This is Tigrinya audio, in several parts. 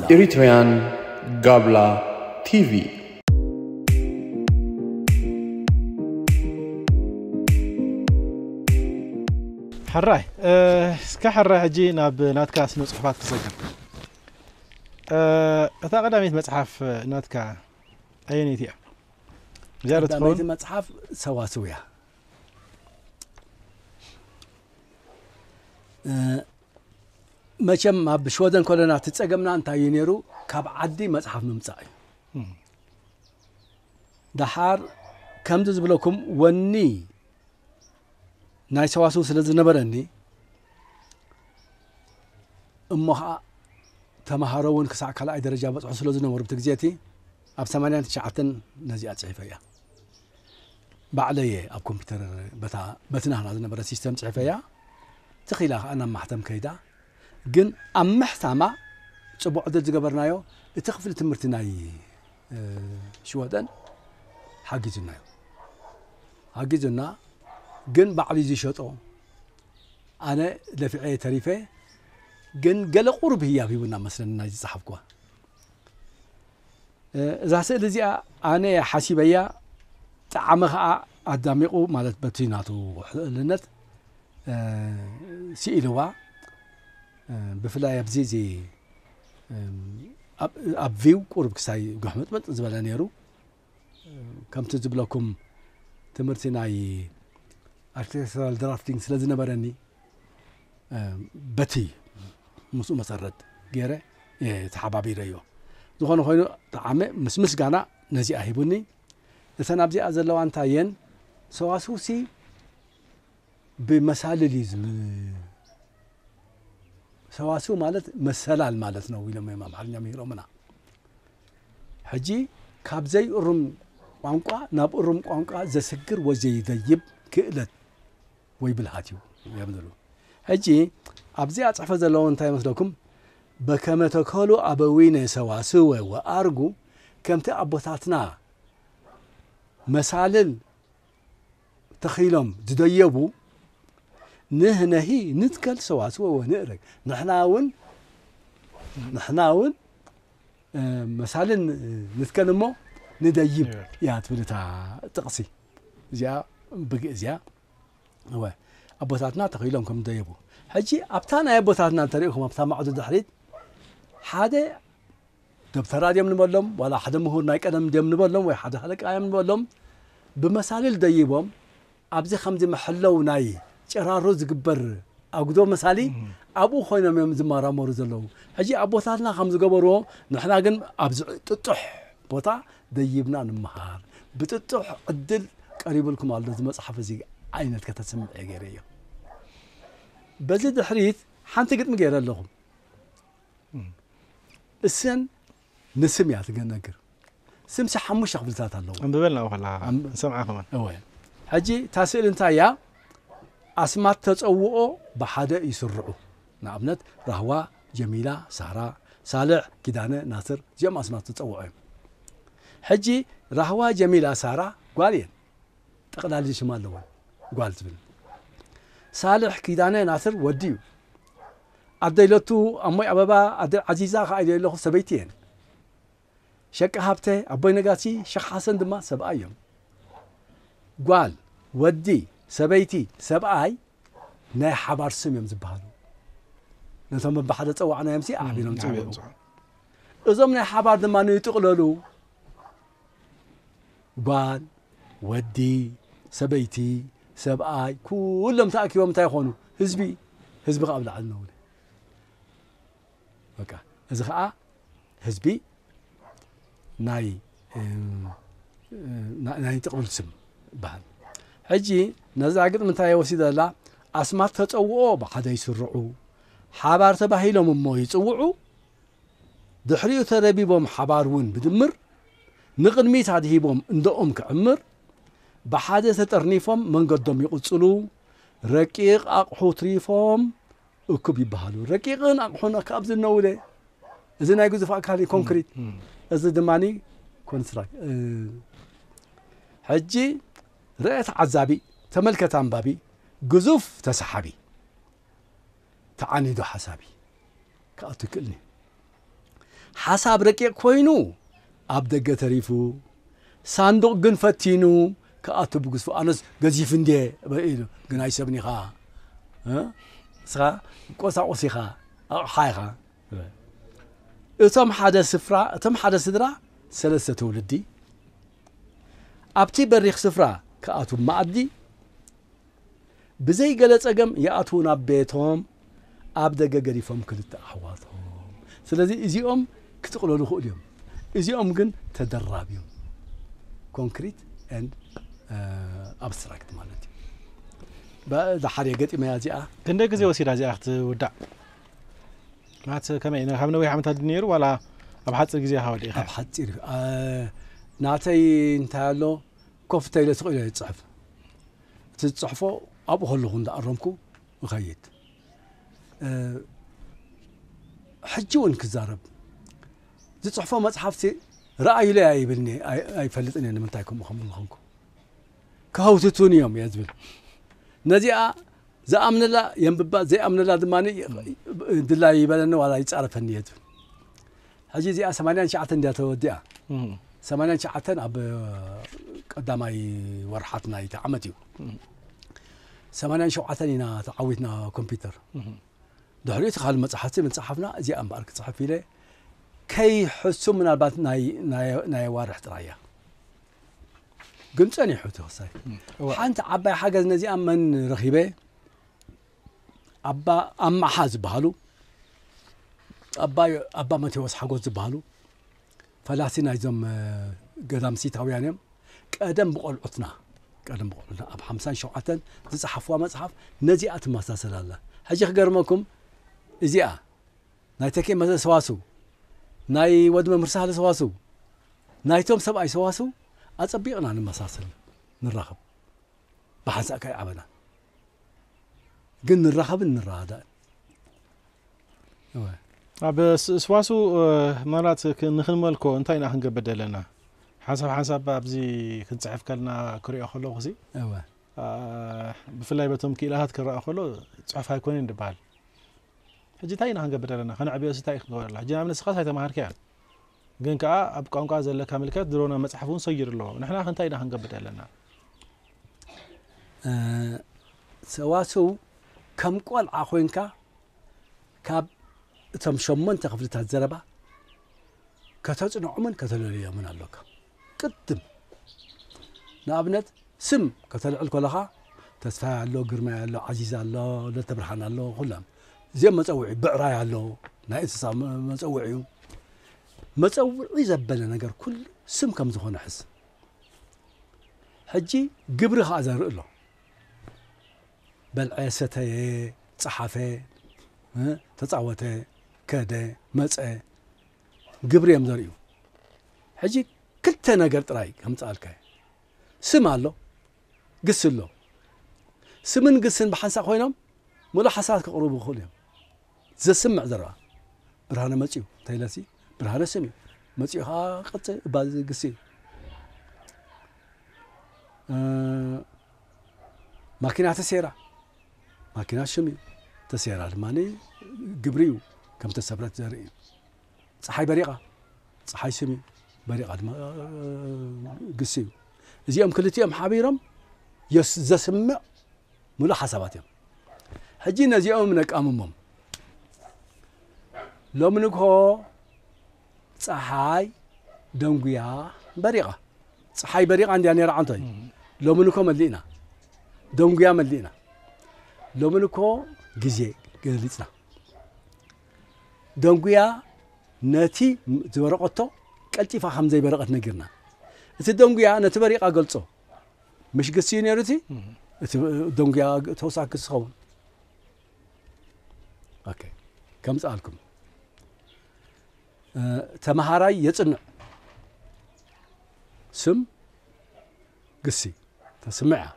Eritrean Gabla TV. ሕራይ እ፣ እስከ ሕራይ ሕጂ ናብ ናትካ ስነ ጽሑፋት ክሰግር እ፣ እታ ቀዳመይቲ መጽሓፍ ናትካ ኣየነይቲ እያ ቀዳመይቲ መጽሓፍ ሰዋስው እያ መቸም ኣብ ሽወደን ኮለና ትፀገምና እንታይ እዩ ነይሩ ካብ ዓዲ መፅሓፍ ምምፃእ እዩ ደሓር ከምዚ ዝብለኩም ወኒ ናይ ሰዋስው ስለ ዝነበረኒ እሞ ከዓ ተምሃሮ እውን ክሳዕ ካልኣይ ደረጃ በፅሑ ስለ ዝነበሩ ብቲ ግዜ እቲ ኣብ ሰማንያን ትሽዓተን ነዚኣ ፅሒፈ እያ ባዕለ እየ ኣብ ኮምፒውተር በታ በቲ ናህና ዝነበረ ሲስተም ፅሒፈ እያ ትኺላ ከዓ ናብ ማሕተም ከይዳ ግን ኣብ ምሕታማ ፅቡቅ ዕድል ዝገበርናዮ እቲ ክፍሊ ትምህርቲ ናይ ሽወደን ሓጊዙና እዩ ሓጊዙና ግን ባዕሉ ዝሸጦ ኣነ ደፊዐ ተሪፈ ግን ገለ ቁሩብ ህያብ ሂቡና መስለኒ ናይ ዝፀሓፍኩዋ እዛ ስእሊ እዚኣ ኣነ ሓሲበያ ጣዕሚ ከዓ ኣዳሚቑ ማለት በቲ ናቱ ሕእልነት ስኢልዋ ብፍላይ ኣብዚ ኣብ ቪው ቁርብ ክሳይ ጉሕምጥምጥ ዝበለ ነይሩ ከምቲ ዝብለኩም ትምህርቲ ናይ ኣርክቴክቸራል ድራፍቲንግ ስለ ዝነበረኒ በቲ ምስኡ መሰረት ገይረ ተሓባቢረ እዮ ዝኾነ ኮይኑ ተዓመ ምስ ምስጋና ነዚኣ ሂቡኒ እተን ኣብዚኣ ዘለዋ እንታይ እየን ሰዋስውሲ ብመሳልል እዩ ዝም ሰዋስው ማለት መሰላል ማለት ነው ኢሎም እዮም ኣምሓርኛ ምሂሮምና ሕጂ ካብ ዘይእሩም ቋንቋ ናብ እሩም ቋንቋ ዘስግር ወይ ዘይደይብ ክእለት ወይ ብልሃት እዩ እዮም ዝብሉ ሕጂ ኣብዚ ኣፅሕፎ ዘለዎ እንታይ ይመስለኩም በከመ ተከሉ ኣበዊነ ሰዋስወ ወኣርጉ ከምቲ ኣቦታትና መሳልል ተኺሎም ዝደየቡ ንህነሂ ንትከል ሰዋስወ ወንእረግ ንሕናውን ንሕናውን መሳልን ንትከል እሞ ንደይብ እያ ትብል እታ ጥቕሲ እዚኣ ብግእ እዚያ እወ ኣቦታትና ተኺሎም ከም ደየቡ ሕጂ ኣብታ ናይ ኣቦታትና እንተሪእኹም ኣብታ ማዕዶ ድሕሪት ሓደ ደብተራ ድዮም ንበሎም ዋላ ሓደ ምሁር ናይ ቀደም ድዮም ንበሎም ወይ ሓደ ሃለቃ እዮም ንበሎም ብመሳልል ደይቦም ኣብዚ ከምዚ መሐለው ናይ ጭራሮ ዝግበር ኣጉዶ መሳሊ ኣብኡ ኮይኖም እዮም ዝመራመሩ ዘለዉ ሕጂ ኣቦታትና ከም ዝገበርዎ ንሕና ግን ኣብዚ ጥጡሕ ቦታ ደይብና ንምሃር ብጥጡሕ ዕድል ቀሪብልኩም ኣሎ እዚ መጽሓፍ እዚ ዓይነት ከተስምዕ እየ ገይረዮ በዚ ድሕሪት ሓንቲ ግጥሚ ገይረ ኣለኹም እሰን ንስም እያ ትገነግር ስምሲ ሓሙሽተ ክፍልታት ኣለዎ ኣንብበልና ወኸላ ንሰምዓ ከመን እወ ሕጂ እታ ስእሊ እንታይ እያ ኣስማት ተፀውኦ ብሓደ ይስርዑ ንኣብነት ራህዋ ጀሚላ ሳራ ሳልዕ ኪዳነ ናስር እዚኦም ኣስማት ተፀውዖ እዮም ሕጂ ራህዋ ጀሚላ ሳራ ጓል እየን ጠቕላሊ ሽማ ኣለወን ጓል ትብል ሳልሕ ኪዳነ ናስር ወዲ እዩ ኣደይ ለቱ ኣሞይ ኣበባ ኣደይ ዓዚዛ ከኣ ኢለዮ ኣለኹ ሰበይቲ እየን ሸቃ ሃብተ ኣቦይ ነጋሲ ሸኽ ሓሰን ድማ ሰብኣይ እዮም ጓል ወዲ ሰበይቲ ሰብኣይ ናይ ሓባር ስም እዮም ዝበሃሉ ነቶም ብሓደ ጸዋዕናዮምሲ ኣሕቢሮም ጸውዑ እዞም ናይ ሓባር ድማ ንይጥቕለሉ ጓል፣ ወዲ፣ ሰበይቲ፣ ሰብኣይ ኩሎም ተኣኪቦም እንታይ ይኾኑ? ህዝቢ። ህዝቢ ከዓ ኣብ ላዕሊ ነውሪ በቃ እዚ ከዓ ህዝቢ ናይ ናይ ጥቕልል ስም ይበሃል ሕጂ ነዛ ግጥሚ እንታይ ወሲደ ዘላ ኣስማት ተፀውኦ ብሓደ ይስርዑ ሓባር ተባሂሎም እሞ ይፅውዑ ድሕሪኡ ተረቢቦም ሓባር እውን ብድምር ንቕድሚት ኣድሂቦም እንደኦም ክዕምር ብሓደ ተጠርኒፎም መንገዶም ይቕጽሉ ረቂቕ ኣቕሑ ትሪፎም እኩብ ይበሃሉ ረቂቕን ኣቕሑን ኣብዚ እነውለ እዚ ናይ ግዙፍ ኣካል ኮንክሪት እዚ ድማ ኮንስትራክ ሕጂ ርእ ተዓዛቢ ተመልከት ኣንባቢ ግዙፍ ተሰሓቢ ተዓኒዱ ሓሳቢ ክኣቱ ይክእልንዩ ሓሳብ ረቂቅ ኮይኑ ኣብ ደገ ተሪፉ ሳንዱቅ ግን ፈቲኑ ክኣቱ ብግዝፉ ኣነስ ገዚፍ እንድየ ኢሉ ግን ኣይሰብን ኢኻ እስኻ ቆሳቁስ ኢኻ ኣቕሓ ኢኻ እቶም ሓደ ስፍራ እቶም ሓደ ስድራ ሰለስተ ትውልዲ ኣብቲ በሪኽ ስፍራ ክኣቱ መኣዲ ብዘይ ገለ ጸገም ይኣትዉ ናብ ቤቶም ኣብ ደገ ገዲፎም ክልተ ኣሕዋቶም ስለዚ እዚኦም ክጥቅለሉ ይኽእሉ እዮም እዚኦም ግን ተደራብዮም ኮንክሪት and ኣብስትራክት ማለት እዩ ዳሓር እየ ገጢመያ እዚኣ ክንደይ ግዜ ወሲዳ እዚኣ ክትውዳእ ማለት ከመይ ካብ ነዊሕ ዓመታት ድዩ ነይሩ ዋላ ኣብ ሓፂር ግዜ ካብ ወዲእኻ ኣብ ሓፂር እዩ ኣ- ናተይ እንታይ ኣሎ ኮፍ እንተኢለ ስቕ ኢለ ዝፅሕፍ እቲ ዝጽሕፎ ኣብኡ ከለኹ እንዳኣረምኩ እኸይድ ሕጂ እውን ክዛረብ ዝጽሕፎ መጽሓፍቲ ረኣዩለይ ኣይብልኒ ኣይፈልጥን እየ ንምንታይ ከምኡ ከም ዝኾንኩ ክሀውትቱን እዮም እየ ዝብል ነዚኣ ዝኣምነላ የንብባ ዘይኣምነላ ድማ ድላይ ይበለኒ ዋላ ይፃረፈኒ እየ ዝብል ሕጂ እዚኣ ሰማንያን ትሽዓተን ድያ ተወዲኣ? ሰማንያን ትሽዓተን ኣብ ቀዳማይ ወርሓት ናይቲ ዓመት እዩ። ሰማንያን ሸውዓተን ኢና ተዓዊትና ኮምፒውተር። ድሕሪኡ እቲ ካልእ መጽሓፍቲ ምጽሓፍና እዚኣ እምበኣር ክጽሕፍ ኢለ ከይሕሱ ምናልባት ናይ ኣዋርሕ ጥራይ እያ ግን ጸኒሑ እቲ ክሳይ ሓንቲ ዓባይ ሓገዝ ነዚኣ መን ረኺበ ኣባ ኣማሓ ዝበሃሉ ኣባ መቴዎስ ሓጎስ ዝበሃሉ ፈላሲ ናይዞም ገዳም ሲታውያን እዮም ቀደም ብቆልዑትና ቀደም ብቆልዑትና ኣብ ሓምሳን ሸውዓተን ዝፀሓፍዋ መፅሓፍ ነዚኣ ትመሳሰል ኣላ ሕጂ ክገርመኩም እዚኣ ናይ ተኬ መዘ ሰዋስው ናይ ወዲ መምህር ሳህለ ሰዋስው ናይቶም ሰብኣይ ሰዋስው ኣፀቢቕና ንመሳሰል ንራኸብ ብሓንሳእካ ኣይዓበናን ግን ንራኸብን ንረዳዳእን እወ ኣብ ስዋሱ መራት ንክንመልኮ እንታይ ኢና ክንገብር ዘለና ሓንሳብ ሓንሳብ ኣብዚ ክንፅሕፍ ከልና ክሪኦ ከለኹ ሲ እወ ብፍላይ በቶም ክኢላታት ክረኣ ከሎ ፅሑፍ ኣይኮነን ድበሃል ሕጂ እንታይ ኢና ክንገብር ዘለና ከነዕብዮ እንታይ ክንገብረላ ሕጂ ንኣብነት ስኻስ ኣይተማሃርካያን ግን ከኣ ኣብ ቋንቋ ዘለካ ምልከት ድሮ ናብ መጽሓፍ እውን ሰጊሩ ኣሎ። ንሕና ከ እንታይ ኢና ክንገብር ዘለና? ሰዋስው ከም ቆልዓ ኮይንካ ካብ እቶም ሸሞንተ ክፍልታት ዘረባ ከተጽንዖምን ከተለልዮምን ኣሎካ። ቅድም ንኣብነት ስም ከተልዕል ከለኻ ተስፋይ ኣሎ፣ ግርማይ ኣሎ፣ ዓዚዝ ኣሎ፣ ለተብርሃን ኣሎ፣ ኩሎም እዚኦም መጸውዒ ብዕራይ ኣሎ ናይ እንስሳ መጸውዒ እዩ መጸውዒ ዘበለ ነገር ኩሉ ስም ከም ዝኾነ ሕዝ ሕጂ ግብሪ ከዓ ዘርኢ ኣሎ በልዐ ሰተየ ጸሓፈ ተጻወተ ከደ መፀ ግብሪ እዮም ዘርእዩ ሕጂ ክልተ ነገር ጥራይ ከምፅኣልካ ስም ኣሎ ግሲ ኣሎ። ስምን ግስን ብሓንሳእ ኮይኖም ምሉእ ሓሳባት ከቕርቡ ይኽእሉ እዮም። ዘስምዕ ዘረባ፣ ብርሃነ መጺኡ እንተኢለሲ፣ ብርሃነ ስሚዑ፣ መጺኡ ከኣ ቀጽ እባ ግሲ እዩ። ማኪና ተሰይራ፣ ማኪና ሽም እዩ፣ ተሰይራ ድማ ግብሪ እዩ፣ ከም ተሰብረት ዘርኢ እዩ። ጸሓይ በሪቓ፣ ጸሓይ ስም እዩ፣ በሪቓ ድማ ግሲ እዩ። እዚኦም ክልቲኦም ሓቢሮም ዘስምዕ ምሉእ ሓሳባት እዮም። ሕጂ ነዚኦም ነቃምሞም። ሎሚ ንግሆ ፀሓይ ደንጉያ በሪቓ፣ ፀሓይ በሪቓ እንዲያ ነራ ዓንቶ እዩ። ሎሚ ንኮ መሊእና ደንጉያ መሊእና፣ ሎሚ ንኮ ግዜ ገሊፅና። ደንጉያ ነቲ ዝበረቐቶ ቀልጢፋ ከም ዘይበረቐት ነጊርና። እቲ ደንጉያ ነቲ በሪቓ ገልጾ። ምሽ ግሲ እዩ ነይሩ እቲ እቲ ደንጉያ ተወሳኺ ግሲ ኸውን ኦኬ ከምጽኣልኩም ተመሃራይ የጽንዕ ስም ግሲ ተስምዕ እያ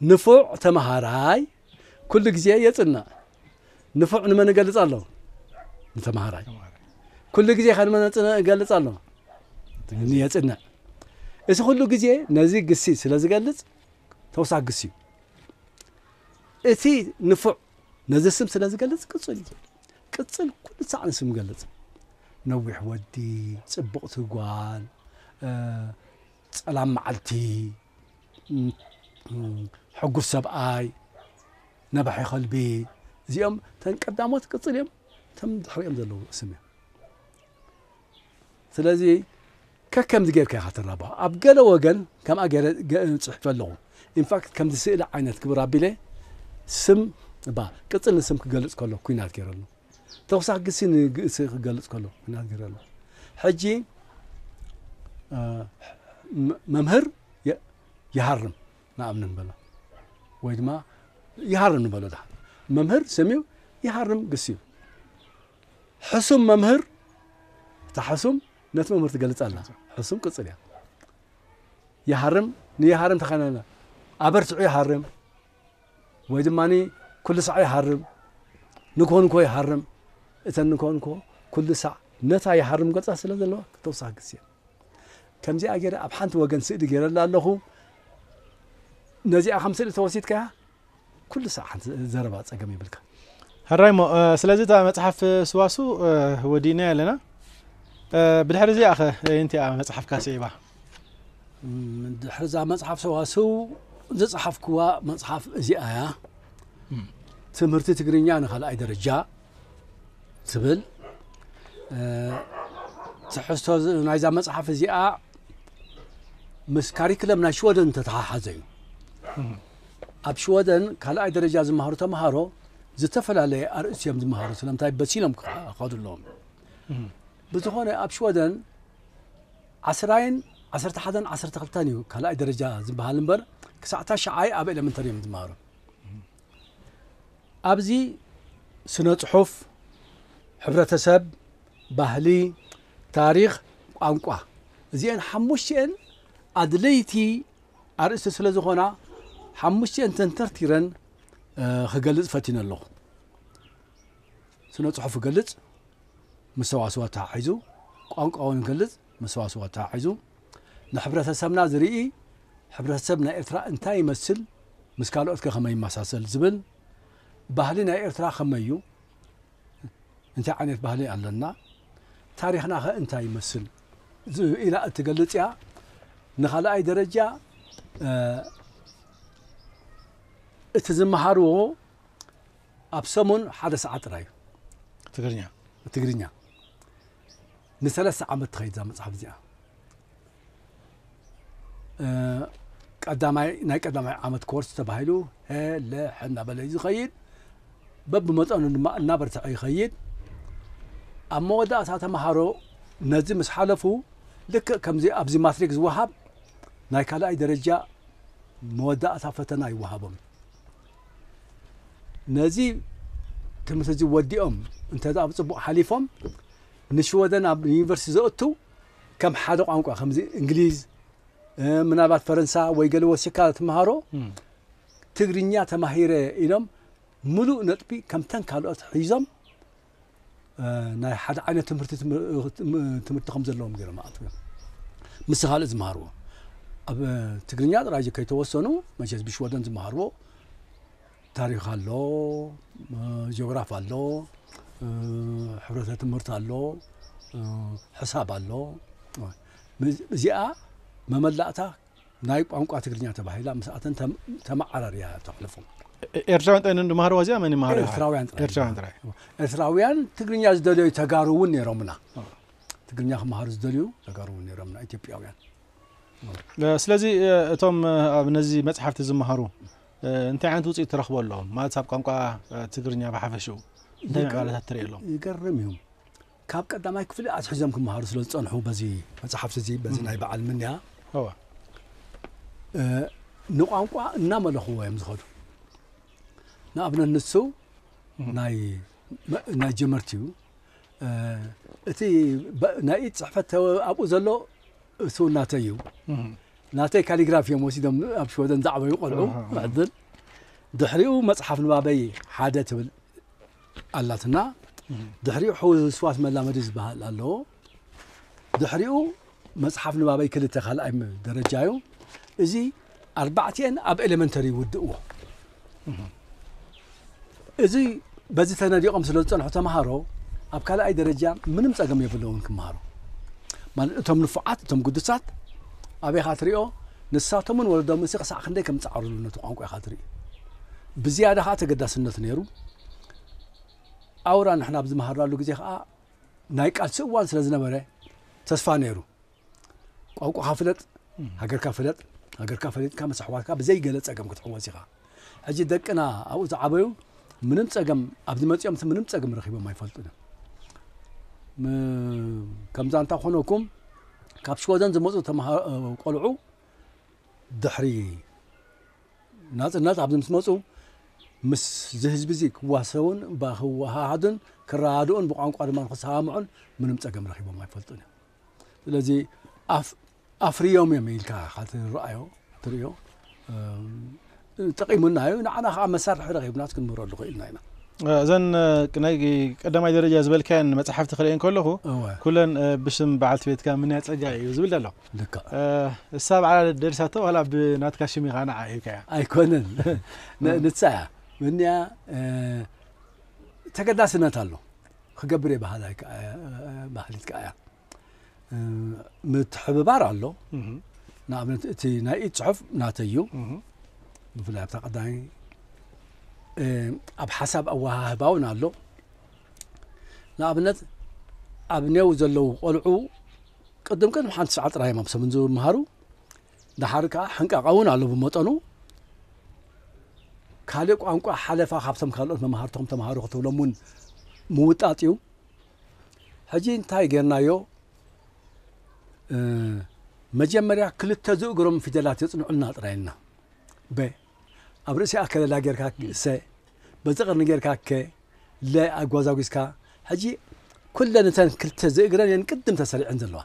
ንፉዕ ተመሃራይ ኩሉ ግዜ የጽንዕ። ንፉዕ ንመን እገልጽ ኣሎ? ንተመሃራይ። ኩሉ ግዜ ከ ንመን እገልጽ ኣሎ? የጽንዕ። እዚ ኩሉ ግዜ ነዚ ግሲ ስለ ዝገልጽ ተውሳክ ግሲ እዩ። እቲ ንፉዕ ነዚ ስም ስለ ዝገልጽ ቅጽል እዩ። ቅጽል ኩሉ ሳዕ ንስም ይገልጽ። ነዊሕ ወዲ፣ ጽቡቕቲ ጓል፣ ጸላም መዓልቲ ሕጉስ ሰብኣይ፣ ነባሒ ከልቢ እዚኦም ተን ቀዳሞት ቅጽል እዮም፣ እቶም ድሕሪኦም ዘለዉ ስም እዮም። ስለዚ ከከምዚ ጌርካ ኢኻ ተራብሖ። ኣብ ገለ ወገን ከምኣ ገይረ ጽሒፈ ኣለኹ። ኢንፋክት ከምዚ ስእሊ ዓይነት ክብር ኣቢለ ስም እባ ቅጽል ንስም ክገልጽ ከሎ ኩናት ገይረሉ ተውሳክግሲ ንግእሲ ክገልጽ ከሎ ክናገር ኣሎ ሕጂ መምህር ይሃርም ንኣብነት ንበሎ ወይ ድማ ይሃርም ንበሎ ዳ መምህር ስምዩ ይሃርም ግስዩ ሕሱም መምህር እታ ሕሱም ነቲ መምህር ትገልጽ ኣላ ሕሱም ቅጽል እያ ይሃርም ንይሃርም ተኸናና ኣበርትዑ ይሃርም ወይ ድማ ኩሉሳዕ ይሃርም ንኮንኮ ይሃርም እተን ንኮንኮ ኩሉሳዕ ነታ ይሃርም ገጻ ስለ ዘለዋ ተወሳኺ ግዜ ከምዚኣ ገይረ ኣብ ሓንቲ ወገን ስእሊ ገይረላ ኣለኹ ነዚኣ ከም ስእሊ ተወሲድካያ ኩሉ ሳዕ ሓንቲ ዘረባ ጸገም ይብልካ ሕራይሞ ስለዚ እታ መጽሓፍ ስዋሱ ወዲእናያ ኣለና ብድሕሪ እዚኣ ኸ የንቲኣ መጽሓፍካ ስዒባ ድሕሪ እዛ መፅሓፍ ሰዋስው ዝፀሓፍኩዋ መፅሓፍ እዚኣ እያ ትምህርቲ ትግርኛ ንካልኣይ ደረጃ ትብል ትሕዝቶ ናይዛ መፅሓፍ እዚኣ ምስ ካሪክለም ናይ ሽወደን ተተሓሓዘ እዩ ኣብ ሽወደን ካልኣይ ደረጃ ዝመሃሩ ተምሃሮ ዝተፈላለየ ኣርእስቲ እዮም ዝመሃሩ ስለምንታይ በሲሎም ክኸዱ ኣለዎም ብዝኾነ ኣብ ሽወደን ዓስራይን ዓሰርተ ሓደን ዓሰርተ ክልተን እዩ ካልኣይ ደረጃ ዝበሃል እምበር ክሳዕ ታሽዓይ ኣብ ኤለመንተሪ እዮም ዝመሃሩ ኣብዚ ስነ ጽሑፍ ሕብረተሰብ ባህሊ ታሪኽ ቋንቋ እዚአን ሓሙሽቲኤን ኣድለይቲ ኣርእስቲ ስለ ዝኾና ሓሙሽቲኤን ተንተርቲረን ክገልጽ ፈቲነ ኣለኹ ስነ ጽሑፍ ክገልጽ ምስ ሰዋስው ኣተሓሒዙ፣ ቋንቋውን ክገልጽ ምስ ሰዋስው ኣተሓሒዙ፣ ንሕብረተሰብና ዝርኢ ሕብረተሰብ ናይ ኤርትራ እንታይ ይመስል ምስ ካልኦትከ ከመይ ይመሳሰል ዝብል፣ ባህሊ ናይ ኤርትራ ከመይ'ዩ እንታይ ዓይነት ባህሊ ኣለና ታሪኽናኸ እንታይ ይመስል ኢላ እትገልጽ'ያ። ንኻልኣይ ደረጃ እቲ ዝመሃርዎ፣ ኣብ ሰሙን ሓደ ሰዓት ጥራይ እዩ ትግርኛ ትግርኛ ንሰለስተ ዓመት ትኸይድ እዛ መፅሓፍ እዚኣ ቀዳማይ ናይ ቀዳማይ ዓመት ኮርስ ተባሂሉ ሄለ እናበለ እዩ ዝኸይድ በብመጠኑ ድማ እናበርትዐ ይኸይድ ኣብ መወዳእታ ተምሃሮ ነዚ ምስ ሓለፉ ልክእ ከምዚ ኣብዚ ማትሪክ ዝወሃብ ናይ ካልኣይ ደረጃ መወዳእታ ፈተና ይወሃቦም ነዚ ትምህርቲ እዚ ወዲኦም እንተ ብፅቡቕ ሓሊፎም ንሽወደን ኣብ ዩኒቨርሲቲ ዘእቱ ከም ሓደ ቋንቋ ከምዚ እንግሊዝ ምናልባት ፈረንሳ ወይ ገለ ወሲካ ትምሃሮ ትግርኛ ተማሂረ ኢሎም ምሉእ ነጥቢ ከምተን ካልኦት ሒዞም ናይ ሓደ ዓይነት ትምህርቲ ትምህርቲ ከም ዘለዎም ገይሮም ኣእትዎም ምስ ካልእ ዝመሃርዎ ኣብ ትግርኛ ጥራይ ከይተወሰኑ መቸስ ብሽወደን ዝመሃርዎ ታሪክ ኣሎ ጂኦግራፍ ኣሎ ሕብረተ ትምህርቲ ኣሎ ሕሳብ ኣሎ እዚኣ መመላእታ ናይ ቋንቋ ትግርኛ ተባሂላ ምስ ኣተን ተመዓራርያ ተሕልፎም ኤርትራውያን ጥራይ ንድማሃርዋ እዚኣ መን ይመሃር ኤርትራውያን ጥራይ ኤርትራውያን ትግርኛ ዝደለዩ ተጋሩ እውን ነይሮምና ትግርኛ ክመሃሩ ዝደልዩ ተጋሩ እውን ነይሮምና ኢትዮጵያውያን ስለዚ እቶም ኣብ ነዚ መፅሓፍቲ ዝመሃሩ እንታይ ዓይነት ውፅኢት ትረኽቦ ኣለዎም ማለት ኣብ ቋንቋ ትግርኛ ብሓፈሽኡ እንታይ ምዕባለታት ትርእየሎም ይገርም እዩ ካብ ቀዳማይ ክፍሊ ኣትሒዞም ክመሃሩ ስለ ዝጸንሑ በዚ መጽሓፍቲ እዚ በዚ ናይ በዓል ምንያ ንቋንቋ እናመለኽዎ እዮም ዝኸዱ ንኣብነት ንሱ ናይ ጀመርቲ እዩ እቲ ናይ ኢድ ፅሕፈት ኣብኡ ዘሎ እሱ ናተይ እዩ ናተይ ካሊግራፊ እዮም ወሲዶም ኣብ ሽወደን ዝዓበዩ ቆልዑ ዕድል ድሕሪኡ መፅሓፍ ንባበይ ሓደ ትብል ኣላትና ድሕሪኡ ሕውስዋስ መላመዲ ዝበሃል ኣሎ ድሕሪኡ መጽሓፍ ንባበይ ክልተ ካልኣይ ደረጃ እዩ እዚ ኣርባዕቲኤን ኣብ ኤሌመንተሪ ይውድእዎ እዚ በዚ ተነዲቖም ስለ ዝጸንሑ ተምሃሮ ኣብ ካልኣይ ደረጃ ምንም ጸገም የብለውን ክምሃሩ ማለት እቶም ንፉዓት እቶም ግዱሳት ኣበይካ ትሪኦ ንሳቶምን ወለዶምሲ ክሳዕ ክንደይ ከም ዝጻዕሩሉ ነቲ ቋንቋ ኢኻ ትርኢ ብዝያዳ ከኣ ተገዳስነት ነይሩ። ኣውራ ንሕና ኣብ ዝመሃርናሉ ግዜ ከኣ ናይ ቃልሲ እዋን ስለ ዝነበረ ተስፋ ነይሩ። ቋንቋኻ ፍለጥ፣ ሃገርካ ፍለጥ፣ ሃገርካ ፈሊጥካ ምስ ኣሕዋትካ ብዘይ ገለ ጸገም ክትሕወስ ኢኻ። ሕጂ ደቅና ኣብኡ ዝዓበዩ ምንም ጸገም ኣብዚ መጺኦምሲ ምንም ጸገም ረኺቦም ኣይፈልጡን እዮም። ከምዛ እንታ ኮነኩም ካብ ሽወደን ዝመፁ ቆልዑ ድሕሪ ናጽነት ኣብዚ ምስ መጹ ምስዚ ህዝቢዚ ክዋሰቡን እባ ክወሃሃዱን ክረዳድኡን ብቋንቋ ድማ ክሰማምዑን ምንም ጸገም ረኺቦም ኣይፈልጡን እዮም። ስለዚ ኣፍ ኣፍርዮም እዮም ኢልካ ኢኻ ትረኣዮ ትርእዮ ጠቒሙና እዩ ንዓና ከዓ መሳርሒ ረኺብና ክንምህረሉ ክኢልና ኢና እዘን ናይ ቀዳማይ ደረጃ ዝበልካየን መፅሓፍቲ ክርእየን ከለኹ ኩለን ብሽም በዓልቲ ቤትካ ምንያ ፀጋ እዩ ዝብል ኣሎ ልክዕ። እሳ ባዕላ ደሪሳቶ ዋላ ብ ናትካ ሽም ኢካ ንዓ ሂብካያ። ኣይኮነን ንሳ እያ ምንያ ተገዳስነት ኣሎ ክገብር እየ በሃላይ ማህሊት ከኣ እያ ምትሕብባር ኣሎ ንኣብነት እቲ ናይ ኢድ ጽሑፍ ናተይ እዩ ብፍላይ ኣብታ ቀዳማይ ኣብ ሓሳብ ኣወሃህባ እውን ኣሎ ንኣብነት ኣብ ኔው ዘለዉ ቆልዑ ቅድም ቅድም ሓንቲ ሰዓት ጥራይ እዮም ኣብ ሰሙን ዝመሃሩ ድሓር ከዓ ሕንቃቃ እውን ኣሎ ብመጠኑ ካልእ ቋንቋ ሓለፋ ካብቶም ካልኦት መማህርቶም ተምሃሩ ክትብሎም እውን ምውጣጥ እዩ ሕጂ እንታይ ጌርናዮ መጀመርያ ክልተ ዝእግሮም ፊደላት የፅንዑልና ጥራይ ኢልና በ ኣብ ርእሲኣ ከለላ ጌርካ ሰ በዚ ቐርኒ ጌርካ ከ ለ ኣጓዛጒዝካ ሕጂ ኩለን እተን ክልተ ዝእግረን እየን ቅድም ተሰሪዐን ዘለዋ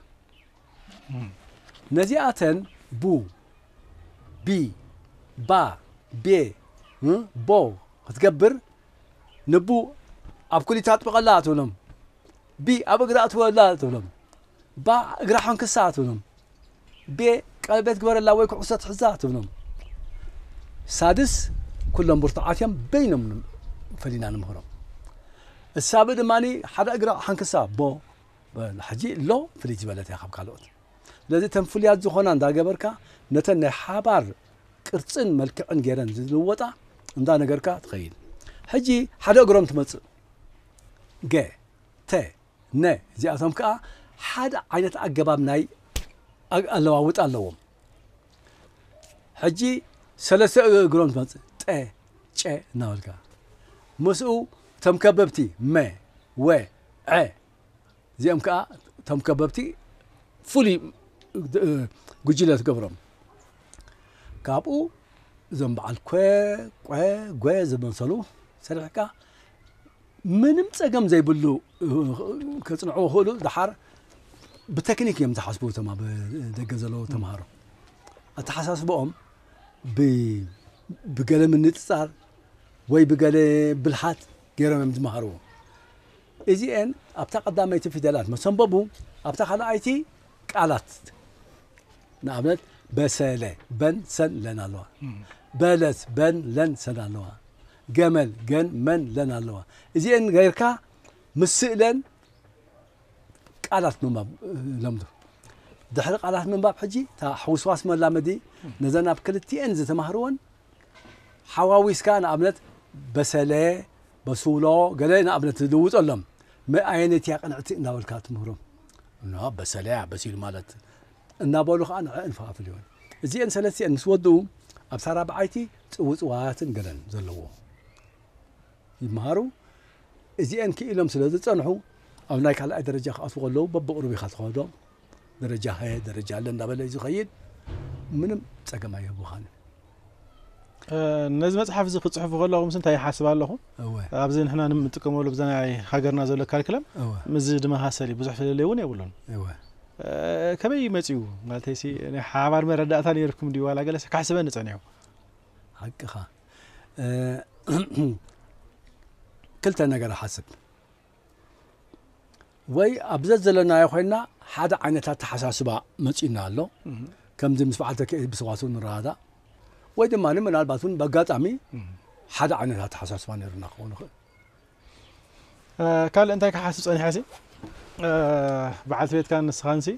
ነዚኣተን ቡ ቢ ባ ቤ ቦ ክትገብር ንቡ ኣብ ኩሊታ ኣጥብቐላ ትብሎም ቢ ኣብ እግራ ኣትወላ ትብሎም ብ እግራ ሖንክሳ ትብሎም። ብ ቀለቤት ግበረላ ወይ ኩዕሶ ትሕዛ ትብሎም። ሳድስ ኩሎም ብርቱዓት እዮም በይኖም ፈሊና ንምህሮም። እሳብ ድማ ሓደ እግራ ሓንክሳ ቦ ሕጂ ሎ ፍልይ ዝበለት እያ ካብ ካልኦት። ስለዚ እተን ፍሉያት ዝኾና እንዳ ገበርካ ነተን ናይ ሓባር ቅርጽን መልክዕን ጌረን ዝልወጣ እንዳ ነገርካ ትኸይድ። ሕጂ ሓደ እግሮም ትመጽእ ገ ተ ን ዚኣቶም ከኣ ሓደ ዓይነት ኣገባብ ናይ ኣለዋውጣ ኣለዎም። ሕጂ ሰለስተ እግሮም ትመጽእ ጠ ጨ እናበልካ ምስኡ እቶም ከበብቲ መ ወ ዐ እዚኦም ከኣ እቶም ከበብቲ ፍሉይ ጉጅለ ትገብሮም ካብኡ እዞም በዓል ኮ ቆ ጎ ዝመሰሉ ሰሪሕካ ምንም ጸገም ዘይብሉ ከጽንዕዎ ክእሉ ድሓር ብተክኒክ እዮም ዝሓስቡ እቶም ኣብ ደገ ዘለዉ ተምሃሮ ኣተሓሳስበኦም ብገለ ምንጽጻር ወይ ብገለ ብልሓት ገይሮም እዮም ዝመሃርዎ እዚአን ኣብታ ቀዳመይቲ ፊደላት መሰንበቡ ኣብታ ካልኣይቲ ቃላት ንኣብነት በሰለ በን ሰን ለን ኣለዋ በለት በን ለን ሰን ኣለዋ ገመል ገን መን ለን ኣለዋ እዚኤን ገይርካ ምስ ስእለን ቃላት ምንባብ ለምዱ። ድሕሪ ቃላት ምንባብ ሕጂ እታ ሕውስዋስ መላመዲ ነዘን ኣብ ክልቲኤን ዝተማህርወን ሓዋዊስካ ንኣብነት በሰለ በሱሎ ገለ ንኣብነት ዝልውጠሎም ኣየነይቲ እያ ቅንዕቲ እናበልካ ትምህሮም እና በሰለያ በሲሉ ማለት እናበሉ ኸኣ ንዕእን ፈፋፍልዮን። እዚኤን ሰለስቲኤን ምስ ወድኡ ኣብ ሳራብዓይቲ ጽውጽዋያትን ገለን ዘለዎ ይመሃሩ። እዚኤን ክኢሎም ስለ ዝጸንሑ ኣብ ናይ ካልኣይ ደረጃ ክኣትዉ ከለዉ በብቕሩብ ኢኻ ትኸዶ። ደረጃ ሃየ ደረጃ ለ እንዳበለ እዩ ዝኸይድ። ምንም ጸገም ኣየህቡኻን። ነዚ መጽሓፍ እዚ ክጽሕፉ ከለኹ ምስ እንታይ ይሓስብ ኣለኹ ኣብዚ ንሕና ንጥቀመሉ ብዛ ናይ ሃገርና ዘሎ ካልክለም ምዚ ድመሳሰል እዩ ብዙሕ ፍለለይ እውን የብሉን ከመይ መፅኡ ማለት ሲ ናይ ሓባር መረዳእታ ነይርኩም ድዩ ዋላ ገለሰ ካሕስበኒ ፀኒሑ ሓቅኻ ክልተ ነገር ሓስብ ወይ ኣብ ዘዘለናዮ ኮይና ሓደ ዓይነት ኣተሓሳስባ መፂኡና ኣሎ ከምዚ ምስ በዓል ተኪኤ ብሰዋስው ንረዳዳእ ወይ ድማ ምናልባት እውን በኣጋጣሚ ሓደ ዓይነት ኣተሓሳስባ ነይሩና ክኸውን ይኽእል ካልእ እንታይ ክሓስብ ፀኒሐ ሲ በዓልቲ ቤትካ ንስኻንሲ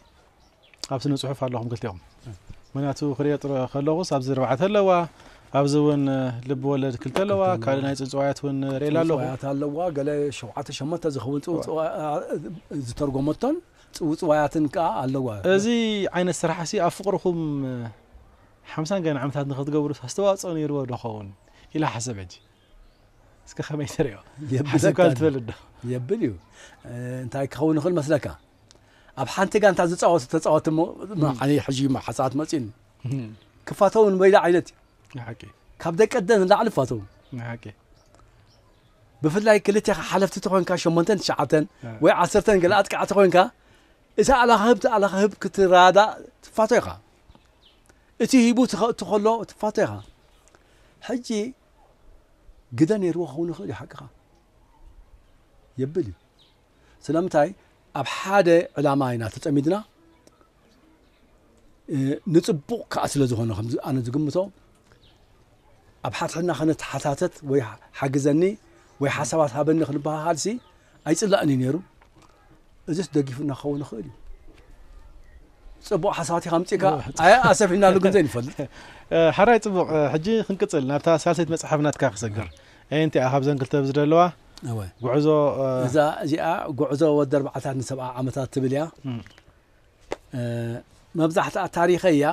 ኣብ ስነ ጽሑፍ ኣለኹም ክልቲኦም ምክንያቱ ክሪኦ ጥረ ከለኹስ ኣብዚ ርባዕተ ኣለዋ ኣብዚ እውን ልቢ ወለድ ክልተ ኣለዋ ካልእ ናይ ጽውጽዋያት እውን ርእላ ኣለኹ ጽውጽዋያት ኣለዋ ገለ ሸውዓተ ሸሞንተ ዝኸውን ጽውጽዋ ዝተርጎመቶን ጽውጽዋያትን ከዓ ኣለዋ እዚ ዓይነት ስራሕ ሲ ኣብ ፍቕርኹም ሓምሳን ገና ዓመታት ንክትገብሩ ኣስተዋጽኦ ነይርዎ ዶ ኸውን ኢላ ሓሰብ ሕጂ እስከ ከመይ ትሪኦ ሓሰብካ ትብል ዶ የብል እዩ እንታይ ክኸውን ይኽእል መስለካ ኣብ ሓንቲ ጋንታ ዝፃወቱ ተፃወቲ ዓነ ሕጂ ሓሳባት መፅኡኒ ክፋተው ንበይላ ዓይነት እዩ ካብ ደቂ ደን ንላዕሊ ፋተው ብፍላይ ክልቴኻ ሓለፍቲ ተኮንካ ሸሞንተን ትሽዓተን ወይ ዓሰርተን ገለ ኣጥቃዕቲ ኮንካ እቲ ኣላኽህብ እቲ ኣላኽህብ ክትራዳእ ትፋቶ ኢኻ እቲ ሂቡ ትኸእቱ ከሎ ትፋቶ ኢኻ ሕጂ ግደ ነይርዎ ክኸውን ይኽእል እዩ ሓቅኻ የብል እዩ ስለምንታይ ኣብ ሓደ ዕላማ ኢና ተጸሚድና ንጽቡቕ ከዓ ስለ ዝኾነ ከም ኣነ ዝግምቶ ኣብ ሓትሕና ከነተሓታተት ወይ ሓግዘኒ ወይ ሓሳባት ሃበኒ ክንበሃሃልሲ ኣይጽላእን እዩ ነይሩ እዚስ ደጊፉና ክኸውን ይኽእል እዩ ፅቡቅ ሓሳባት ኢኻ ምፅእካ ኣይ ኣሰፊሕናሉ ግን ዘይንፈልጥ ሓራይ ፅቡቅ ሕጂ ክንቅፅል ናብታ ሳልሰይቲ መፅሓፍ ናትካ ክሰግር ኣየንቲ እያ ካብዘን ክልተ ብዝደለዋ ጉዕዞ እዛ እዚኣ ጉዕዞ ወዲ ኣርባዕታት ንሰብዓ ዓመታት ትብል እያ መብዛሕትኣ ታሪኸይ እያ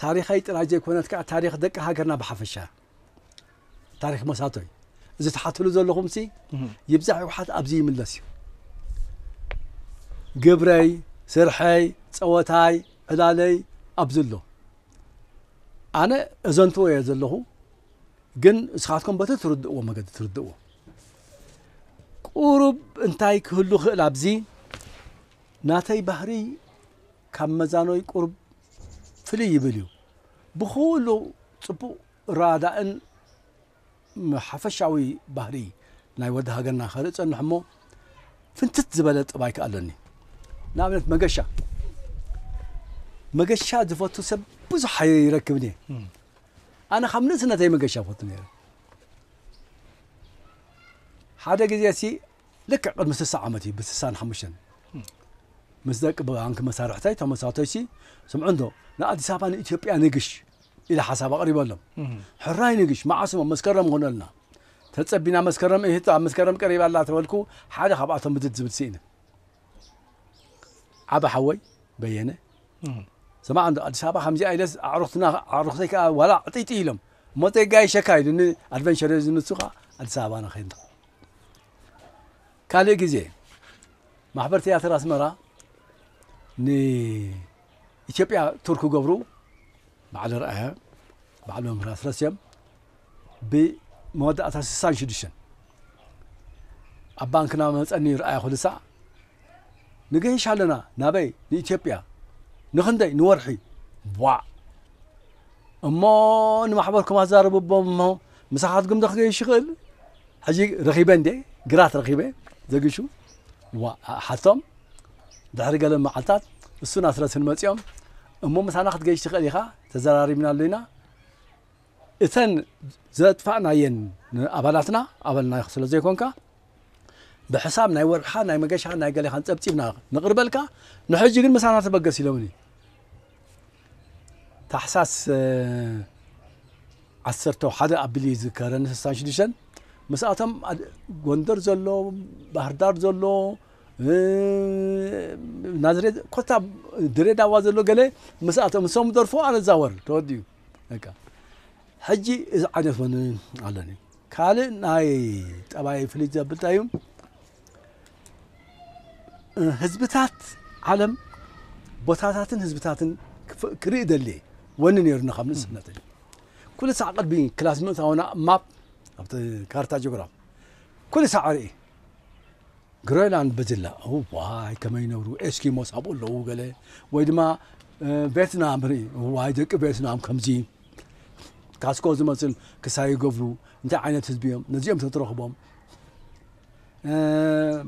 ታሪኸይ ጥራይ ዘይኮነት ከዓ ታሪክ ደቂ ሃገርና ብሓፈሻ ታሪክ መሳቶ እዩ እዚ ትሓትሉ ዘለኹም ሲ ይብዛሕ ይውሓት ኣብዚ ይምለስ እዩ ግብረይ ስርሐይ ፀወታይ ዕላለይ ኣብዚ ኣሎ ኣነ እዘንትዎ እየ ዘለኹ ግን እስኻትኩም በቲ ትርድእዎ መገዲ ትርድእዎ ቁሩብ እንታይ ክህሉ ክእል ኣብዚ ናተይ ባህሪ ካብ መዛኖይ ቁሩብ ፍልይ ይብል እዩ። ብኹሉ ጽቡቕ ራዳእን ሓፈሻዊ ባህሪ ናይ ወዲ ሃገርና ከርኢ እጸንሕ እሞ ፍንትት ዝበለ ጠባይ ከኣ ኣለኒ። ንኣብነት መገሻ መገሻ ዝፈቱ ሰብ ብዙሕ ኣይረክብን እየ። ኣነ ካብ ንእስነተይ መገሻ ፈቱ ነይረ። ሓደ ግዜ ሲ ልክዕ ቅድሚ ስሳ ዓመት እዩ ብስሳን ሓሙሽተን ምስ ደቂ ባንኪ መሳርሕተይ ተመሳቶይሲ ስምዑንዶ ንኣዲስ ኣበባ ንኢትዮጵያ ንግሽ ኢለ ሓሳብ ኣቕሪበሎም ሕራይ ንግሽ መዓስሞ መስከረም ኾነልና ተጸቢና መስከረም እህቶ ኣብ መስከረም ቀሪባ ኣላ ተበልኩ ሓደ ካብኣቶም ምድድ ዝብል ስኢነ ዓበ ሓወይ በየነ ስማዕ እንዶ ኣዲስ ኣበባ ከምዚኣ ኢለስ ኣዕሩኽትና ኣዕሩኽተይ ከዓ ዋላ ዕጥይጥይ ኢሎም እሞ ዘይጋየሸካ ኢሉኒ ኣድቨንቸር ዝንሱ ከዓ ኣዲስ ኣበባና ኸይንዳ ካልእ ግዜ ማሕበር ትያትር ኣስመራ ንኢትዮጵያ ቱር ክገብሩ በዓል ርኣያ በዓል መምህር ኣስረስ እዮም ብመወዳእታ ስሳን ሽዱሽተን ኣብ ባንክና መፀኒ ርኣያ ኩልሳዕ ንገይሽ ኣለና ናበይ ንኢትዮጵያ ንኽንደይ ንወርሒ ቧዕ እሞ ንማሕበርኩም ኣዛርብቦም እሞ ምሳኻትኩም ዶ ክገይሽ ይኽእል ሕጂ ረኺበ እንዴ ግራት ረኺበ ዘግሹ ዋ ሓቶም ድሕሪ ገለ መዓልታት እሱን ኣስረስን መፂኦም እሞ ምሳና ክትገይሽ ትኽእል ኢኻ ተዘራሪብና ኣሎ ኢና እተን ዘጥፋእናየን ንኣባላትና ኣባልና ስለ ዘይኮንካ ብሕሳብ ናይ ወርሕኻን ናይ መገሻኻን ናይ ገሌኻን ጸብጺብና ነቕርበልካ ንሕጂ ግን ምሳና ተበገስ ኢሎምኒ ታሕሳስ ዓሰርተ ሓደ ኣብሊ ዝከረኒ ስሳን ሽዱሽተን ምስኣቶም ጎንደር ዘሎ ባህርዳር ዘሎ ናዝሬት ኮታ ድሬዳዋ ዘሎ ገለ ምስኣቶም እሶም ደርፎ ኣነ ዛወር ተወዲኡ በቃ ሕጂ እዚ ዓይነት ውን ኣሎኒ ካልእ ናይ ጠባይ ፍልይ ዘብል ታይ እዩ ህዝብታት ዓለም ቦታታትን ህዝብታትን ክርኢ ደልየ ወኒ ነይሩኒ ካብ ንእስነተይ ኩሉ ሳዕ ቅድሚ ክላስ ምእታውና ማፕ ኣብቲ ካርታ ጂኦግራፍ ኩሉ ሳዕ ርኢ ግሮይላንድ ብጅላ እዋይ ከመይ ይነብሩ ኤስኪሞስ ኣብኡ ኣለዉ ገለ ወይ ድማ ቬትናም ርኢ እዋይ ደቂ ቬትናም ከምዚ ካስኮ ዝመስል ክሳ ይገብሩ እንታይ ዓይነት ህዝቢ እዮም ነዚኦም ተትረኽቦም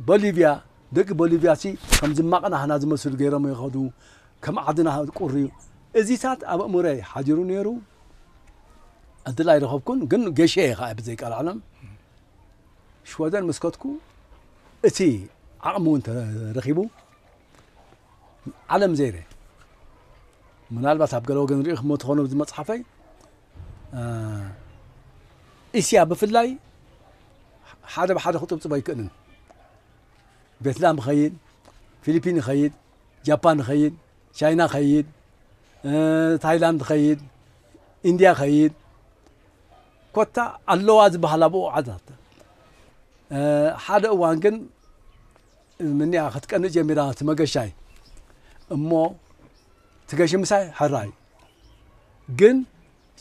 ቦሊቪያ ደቂ ቦሊቪያ ሲ ከም ዝማቕና ሃና ዝመስሉ ገይሮም ይኸዱ ከም ዓድና ቁርዩ እዚታት ኣብ እምረይ ሓዲሩ ነይሩ እድል ኣይረኸብኩን ግን ገሸ እየ ከዓ ብዘይቃልዓለም ሽወደን ምስ ከድኩ እቲ ዓቕሚ እውን ተረኺቡ ዓለም ዘይረ ምናልባት ኣብ ገለ ወገን ርኢኹሞ ትኾኑ እዚ መፅሓፈይ እስያ ብፍላይ ሓደ ብሓደ ክጥብፅቦ ኣይክእልን ቬትናም ኸይድ ፊሊፒን ኸይድ ጃፓን ኸይድ ቻይና ኸይድ ታይላንድ ኸይድ ኢንድያ ኸይድ ኮታ ኣለዋ ዝበሃል ኣብኡ ዓዛተ ሓደ እዋን ግን ምንያ ክትቀንእ ጀሚራ እቲ መገሻይ እሞ ትገሽ ምሳይ ሕራይ ግን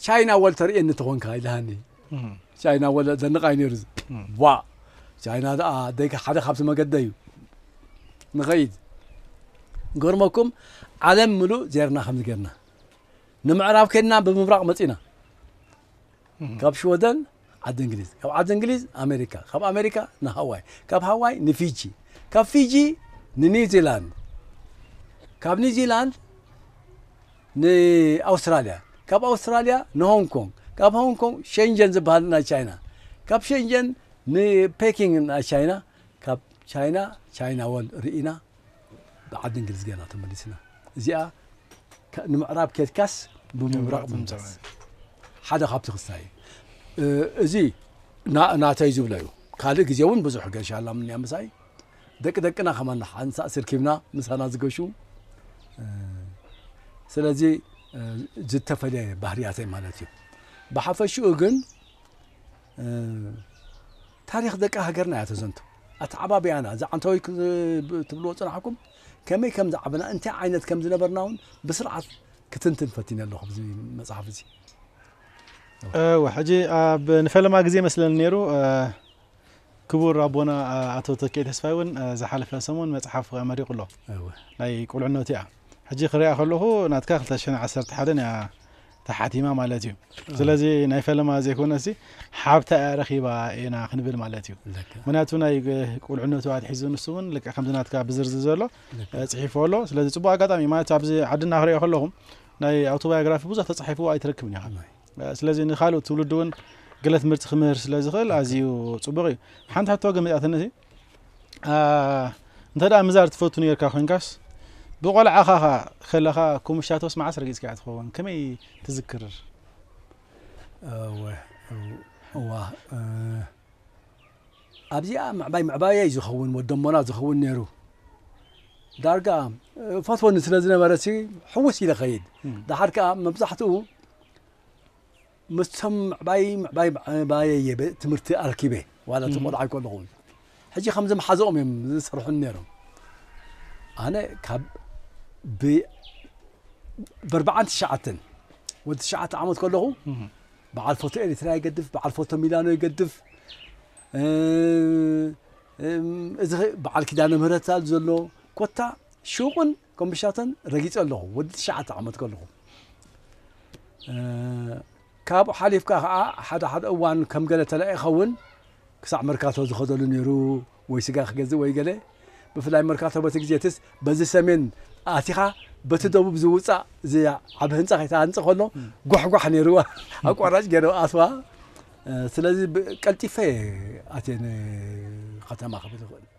ቻይና ወል ተርእየኒ ተኾንካ ኢልሃኒ ቻይና ወለ ዘንቓይ ነይሩ ዋ ቻይና ደኣ ደቂ ሓደ ካብቲ መገደ እዩ ንኸይድ ገርመኩም ዓለም ምሉእ ዜርና ከምዚ ጌርና ንምዕራብ ከድና ብምብራቕ መጺእና ካብ ሽወደን ዓዲ እንግሊዝ ካብ ዓዲ እንግሊዝ ኣሜሪካ ካብ ኣሜሪካ ንሃዋይ ካብ ሃዋይ ንፊጂ ካብ ፊጂ ንኒውዚላንድ ካብ ኒውዚላንድ ንኣውስትራልያ ካብ ኣውስትራልያ ንሆንግ ኮንግ ካብ ሆንግ ኮንግ ሸንጀን ዝበሃል ናይ ቻይና ካብ ሸንጀን ንፔኪንግ ናይ ቻይና ካብ ቻይና ቻይና ወል ርኢና ብዓዲ እንግሊዝ ገና ተመሊስና እዚኣ ንምዕራብ ኬድካስ ብምብራቕ ምምፃስ ሓደ ካብቲ ክስታይ እዚ ናተይ ዝብሎ እዩ ካልእ ግዜ እውን ብዙሕ ገሻላ ምንያ ምሳይ ደቂ ደቅና ከማን ሓንሳእ ስርኪብና ምሳና ዝገሹ ስለዚ ዝተፈለየ ባህርያተይ ማለት እዩ ብሓፈሽኡ ግን ታሪኽ ደቂ ሃገርና እያ ተዘንቱ። ኣተዓባብያና እዚ ዓንተወይ ትብልዎ ጽናሕኩም ከመይ ከም ዝዓበና እንታይ ዓይነት ከም ዝነበርና እውን ብስርዓት ክትንትን ፈቲነ ኣለኹ ብዚ መጽሓፍ እዚ እወ ሕጂ ኣብ ንፈለማ ግዜ መስለኒ ነይሩ ክቡር ኣቦና ኣቶ ተኬ ተስፋይ እውን ዝሓለፈ ሰሙን መጽሓፍ ኣመሪቑ ኣሎ ናይ ቁልዕነቱ እያ ሕጂ ክሪኣ ከለኹ ናትካ 211 እያ ተሓቲማ ማለት እዩ ስለዚ ናይ ፈለማ ዘይኮነ ሲ ሓብታ እያ ረኺባ ኢና ክንብል ማለት እዩ ምክንያቱ ናይ ቁልዕነቱ ኣትሒዙ ንሱ እውን ልክዕ ከምዚ ናትካ ብዝርዝር ዘሎ ፅሒፎ ኣሎ ስለዚ ፅቡቅ ኣጋጣሚ እዩ ማለት ኣብዚ ዓድና ክሪኦ ከለኹም ናይ ኣውቶባዮግራፊ ብዙሕ ተፃሒፍዎ ኣይትረክብን ኢኻ ስለዚ ንካልእ ትውልዲ እውን ገለ ትምህርቲ ክምህር ስለ ዝኽእል ኣዝዩ ፅቡቅ እዩ ሓንቲ ሕቶ ግን መፅኣትኒ እንተ ደኣ ምዛር ትፈቱ ነርካ ኮንካስ ብቆልዓኻ ኸ ከለኻ ኮምሻቶስ መዓስ ረጊጽካ እያ ትኸውን ከመይ ትዝክር እዋ ኣብዚኣ ምዕባይ ምዕባየ እዩ ዝኸውን ወደሞና ዝኸውን ነይሩ ዳርጋ ፈትወኒ ስለ ዝነበረ ሲ ሕውስ ኢለ ኸይድ ዳሓር ከዓ መብዛሕትኡ መቸም ምዕባይ ምዕባይ ምዕባየይ እየ ብ ትምህርቲ ኣርኪበ ዋላ እቲ ቆልዓይ ከለኹ ሕጂ ከምዚ ምሓዘኦም እዮም ዝሰርሑኒ ነይሮም ኣነ ካብ ብ በርባዓን ትሽዓተን ወዲ ትሽዓተ ዓመት ከለኹ በዓል ፎቶ ኤሪትራ ይገድፍ በዓል ፎቶ ሚላኖ ይገድፍ እዚ በዓል ኪዳነ ምህረት ኣሎ ኮታ ሹቕን ኮምብሻተን ረጊጸ ኣለኹ ወዲ ትሽዓተ ዓመት ከለኹ። ካብኡ ሓሊፍካ ከኣ ሓደ ሓደ እዋን ከም ገለ ተላኢኸ እውን ክሳዕ መርካቶ ዝኸደሉ ነይሩ ወይ ስጋ ክገዝእ ወይ ገለ ብፍላይ መርካቶ በቲ ግዜ እትስ በዚ ሰሜን ኣቲኻ በቲ ደቡብ ዝውፃእ እዚ ዓብ ህንፃ ከይተሃንፀ ከሎ ጓሕጓሕ ነይርዋ ኣቋራጭ ገይረ ኣትዋ ስለዚ ቀልጢፈ ኣትየ ከተማ ክብል ይኽእል